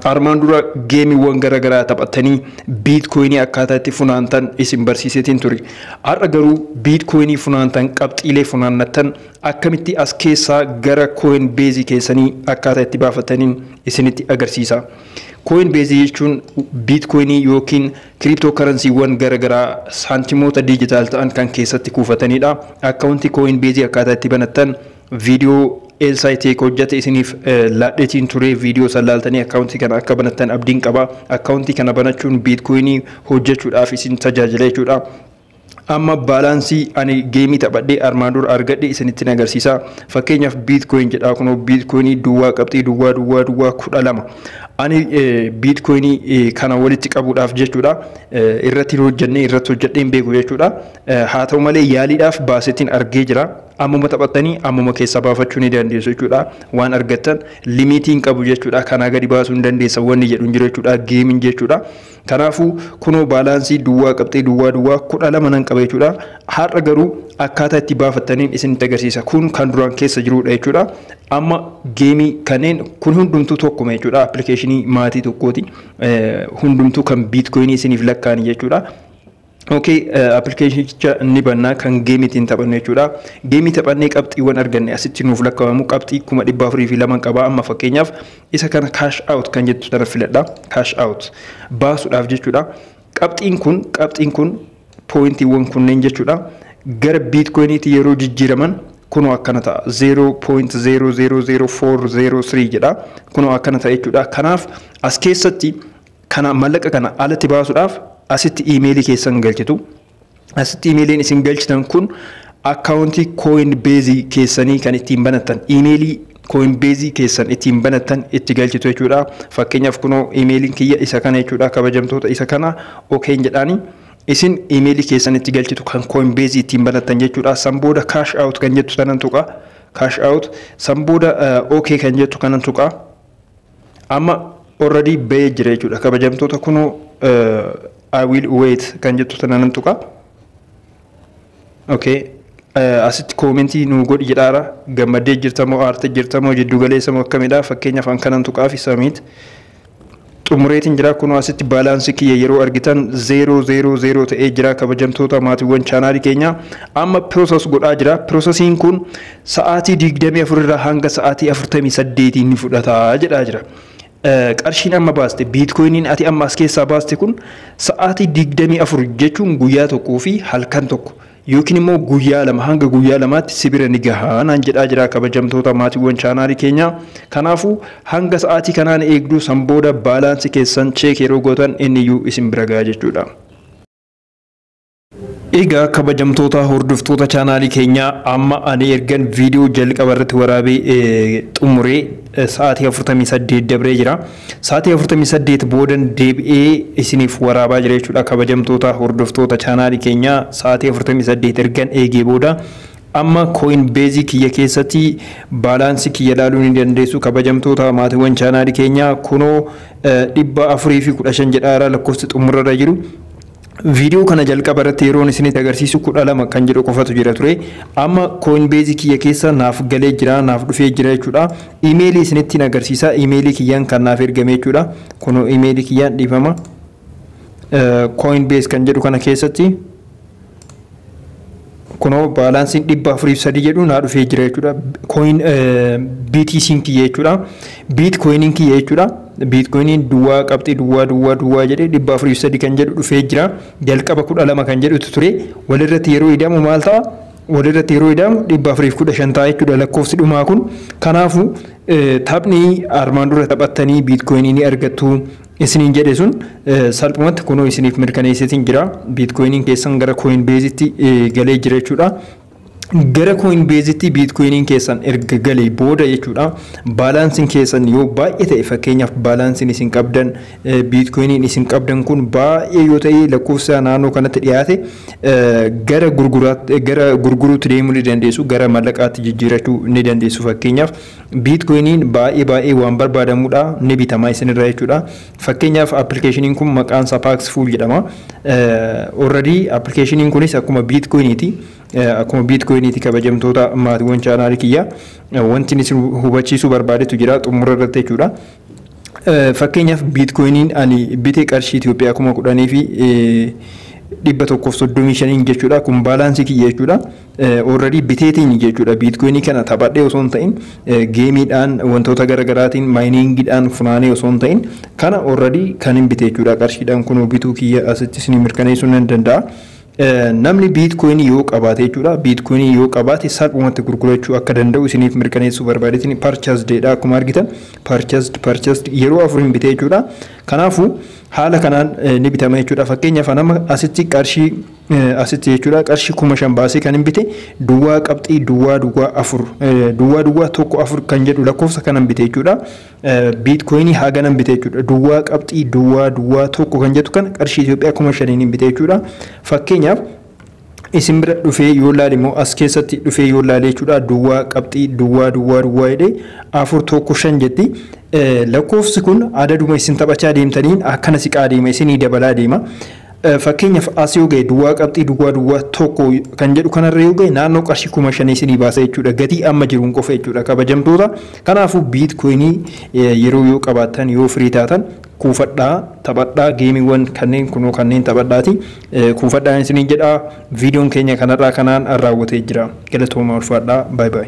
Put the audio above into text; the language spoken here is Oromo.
Armaan dura geemiiwwan gara garaa taphattanii biitkoyinii akkaataa itti funaantan isin barsiiseetiin ture. Har'a garuu biitkoyinii funaantan qabxiilee funaannattan akkamitti as keessaa gara kooyin beezii keessanii akkaataa itti baafattaniin isinitti agarsiisa. Kooyin beezii jechuun biitkoyinii yookiin kiriiptookaransiiwwan gara garaa saantimoota diijitaal ta'an kan keessatti kuufatanidha. Akkaawuntii kooyin beezii akkaataa itti banattan Video Elsa Iteko hojjate isiniif laadhetiin ture video san laaltanii account kana akka banattan abdiin qaba. Account kana banachuun bitcoin hojjachuudhaaf isin tajaajila jechuudha. Amma baalaansii ani geemii taphadhee armaan dura argadhe isinittin agarsiisa. Fakkeenyaaf bitcoin jedhaa kunoo bitcoin duwwaa qabxii duwwaa duwwaa duwwaa kudha lama. Ani bitcoin kana walitti qabuudhaaf jechuudha irratti hojjannee irratti hojjadheen beeku jechuudha. Haa ta'u malee yaaliidhaaf baasetiin argee jira. Ammuma taphattanii ammuma keessaa baafachuu ni dandeessu jechuudha. Waan argattan limiitii hin qabu jechuudha. Kanaa gadi baasuu hin dandeessa wanni jedhu hin jiru jechuudha. Geemiin jechuudha. Kanaafuu kunoo baalaansii duwwaa qabxii duwwaa duwwaa kudha lama nan qaba jechuudha. Har'a garuu akkaataa itti baafattaniin isinitti agarsiisa. Kun kan duraan keessa jirudha jechuudha. Amma geemii kanneen kun hundumtuu tokkuma jechuudha. Appilikeeshinii maatii tokkooti. Hundumtuu kan biitkoyinii isiniif lakkaa'an jechuudha. Okay, appilikeeshinicha ni bannaa kan geemii ittiin taphannu jechuudha. Geemii taphannee qabxiiwwan arganne asitti nuuf lakkaa'amu qabxii kuma dhibba afurii fi laman qaba. Amma fakkeenyaaf isa kana cash out kan jettu sana filadha. Cash out baasuudhaaf jechuudha. Qabxiin kun qabxiin kun pooyintiiwwan kunneen jechuudha. Gara biitkoyiniitti yeroo jijjiiraman kunoo akkana ta'a. 0.00040 jedha. Kunoo akkana ta'a jechuudha. Kanaaf as keessatti Kana mallaqa kana alatti baasuudhaaf asitti iimeelii keessan galchitu. Asitti iimeeliin isin galchitan kun akkaawuntii Coinbase keessanii kan ittiin banattan iimeelii Coinbase keessan ittiin banattan itti galchitu jechuudha. Fakkeenyaaf kunoo iimeeliin kiyya isa kana jechuudha kabajamtoota isa kana okeen jedhaanii isin iimeelii keessan itti galchitu kan Coinbase ittiin banattan jechuudha. San booda cash out kan jettu sanan tuqa. Cash out san booda OK kan jettu kanan tuqa. Amma already bahee jira jechuudha. Kabajamtoota kunoo I will wait kan jettu tana nan tuqa. Okay. Asitti koomentii nuu godhi jedhaara. Gammaddee jirta moo aartee jirta moo jiddu galeessa moo akkamidha? Fakkeenyaaf an kanan tuqaa fi samiit. Xumureetiin jira kunoo asitti baalaansii kiyya yeroo argitan zeeroo zeeroo zeeroo ta'ee jira kabajamtoota maatiiwwan chaanaalii keenya. Amma piroosas godhaa jira. Piroosasiin kun Sa'aatii 24 irraa hanga sa'aatii 48 ni fudhata jedhaa jira. Qarshiin amma baaste biitkoyiniin ati amma as keessaa baaste kun sa'aatii 24 jechuun guyyaa tokkoo fi halkan tokko yookiin immoo guyyaa lama hanga guyyaa lamaatti si bira ni gaha naan jedhaa jira kabajamtoota maatiiwwan chaanaalii keenyaa. Kanaafuu hanga sa'aatii kanaan eegduu san booda baalaansi keessan cheek yeroo gootan inni iyyuu isin bira gaha jechuudha. Egaa kabajamtoota hordoftoota chaanaalii keenyaa amma ani ergan viidiyoo jalqaba irratti waraabee eh, xumuree eh, sa'aatii 48 dabree jira. Sa'aatii 48 boodan deebi'ee isiniif waraabaa jira jechuudha kabajamtoota hordoftoota chaanaalii keenyaa sa'aatii 48 ergan eegee booda amma kooyin beezii kiyya keessatti baalaansii kiyya ilaaluu ni dandeessu kabajamtoota maatiiwwan chaanaalii keenyaa kunoo eh, 415 jedhaara lakkoofsi xumurarra jiru. Video kana jalqaba irratti yeroon isinitti agarsiisu 12 kan jedhu qofatu jira ture. Amma Coinbase kiyya keessa naaf galee jira, naaf dhufee jira jechuudha. Email isinittiin agarsiisa. Email kiyyaan kan naaf ergame jechuudha. Kunoo email kiyyaan dhiifama. Coinbase kan jedhu kana keessatti Kunoo baalaansiin dhibba afurii fi sadii jedhu naa dhufee jira jechuudha. Coin BTC'n kiyya jechuudha. Bitcoin'n kiyya jechuudha. Bitcoin'n duwwaa qabxii duwwaa duwwaa duwwaa jedhee dhibba afurii fi sadii kan jedhu dhufee jira. Jalqaba kudha lama kan jedhutu ture. Walirratti yeroo idamu maal ta'a? Walirratti yeroo idamu dhibba afurii fi kudha shan ta'a jechuudha lakkoofsi dhumaa kun. Kanaafuu taphni armaan dura taphattanii bitcoin'ii ni argattu. isiniin jedhe sun salphumatti kunoo isiniif mirkaneesseetiin jira. Biitkoyiniin keessan gara Coinbase'tti galee jira jechuudha. Gara Coinbase'tti biitkoyiniin keessan erga galee booda jechuudha. Baalaansiin keessan yoo baay'ee ta'e fakkeenyaaf baalaansiin isin qabdan biitkoyiniin isin qabdan kun baay'ee yoo ta'e lakkoofsa naannoo kanatti dhiyaate gara gurguruutti deemuu ni dandeessu. Gara mallaqaatti jijjiirachuu ni dandeessu fakkeenyaaf. Biitkoyiniin baay'ee baay'ee waan barbaadamudha. Ni bitama isinirra jechuudha. Fakkeenyaaf appilikeeshiniin kun maqaan isaa Paxful jedhama. Already appilikeeshiniin kunis akkuma biitkoyiniiti. Akkuma biitkoyiniiti kabajamtoota maatiiwwan chaanaalii kiyya. Wanti isin hubachiisuu barbaadetu jira xumura irratti jechuudha. Fakkeenyaaf biitkoyiniin ani bite qarshii Itoophiyaa kuma kudhanii fi dhibba tokkoof soddomii shaniin jechuudha. Kun baalaansii kiyya jechuudha. Oorrarii biteetiin jechuudha. Biitkoyinii kana taphadhee osoo hin ta'in geemiidhaan wantoota garaagaraatiin maayiniingiidhaan funaanee osoo hin ta'in kana oorrarii kan hin bite jechuudha. Qarshiidhaan kunoo bituu kiyya asitti isin mirkaneessuu nan danda'a. Namni Bitcoin yoo qabaate jechuudha. Bitcoin yoo qabaate salphumatti gurgurachuu akka danda'u isiniif mirkaneessuu barbaadeetiin purchased dha akkuma argitan purchased purchased yeroo afuriin bitee jechuudha. Kanaafuu haala kanaan ni bitama jechuudha. Fakkeenyaaf nama asitti qarshii asitti jechuudha qarshii kuma shan baasee kan hin bite duwwaa qabxii duwwaa duwwaa afur duwwaa duwwaa tokko afur kan jedhu lakkoofsa kanan bite jechuudha. Biitkoyinii haganan bite jechuudha. Duwwaa qabxii duwwaa duwwaa tokko kan jettu kana qarshii Itoophiyaa kuma shaniin bite jechuudha. Fakkeenyaaf isin bira dhufee yoo laale immoo as keessatti dhufee yoo laale jechuudha duwwaa qabxii duwwaa duwwaa duwwaa jedhee afur tokko shan jetti. Lakkoofsi kun adaduma isin taphachaa deemtaniin akkana siqaa deema isinii dabalaa deema. Fakkeenyaaf as yoo ga'e duwwaa qabxii duwwaa duwwaa tokko kan jedhu kanarra yoo ga'e naannoo qarshii kuma shanii isinii baasa jechuudha gatii amma jiruun qofa jechuudha kabajamtoota kanaafuu biitkoyinii yeroo yoo qabaattan yoo firii taatan kuufadhaa taphadhaa geemiiwwan kanneen kunoo kanneen taphadhaati kuufadhaa isiniin jedhaa viidiyoon keenya kanarraa kanaan raawwatee jira galatoomaa ulfaadhaa baay baay.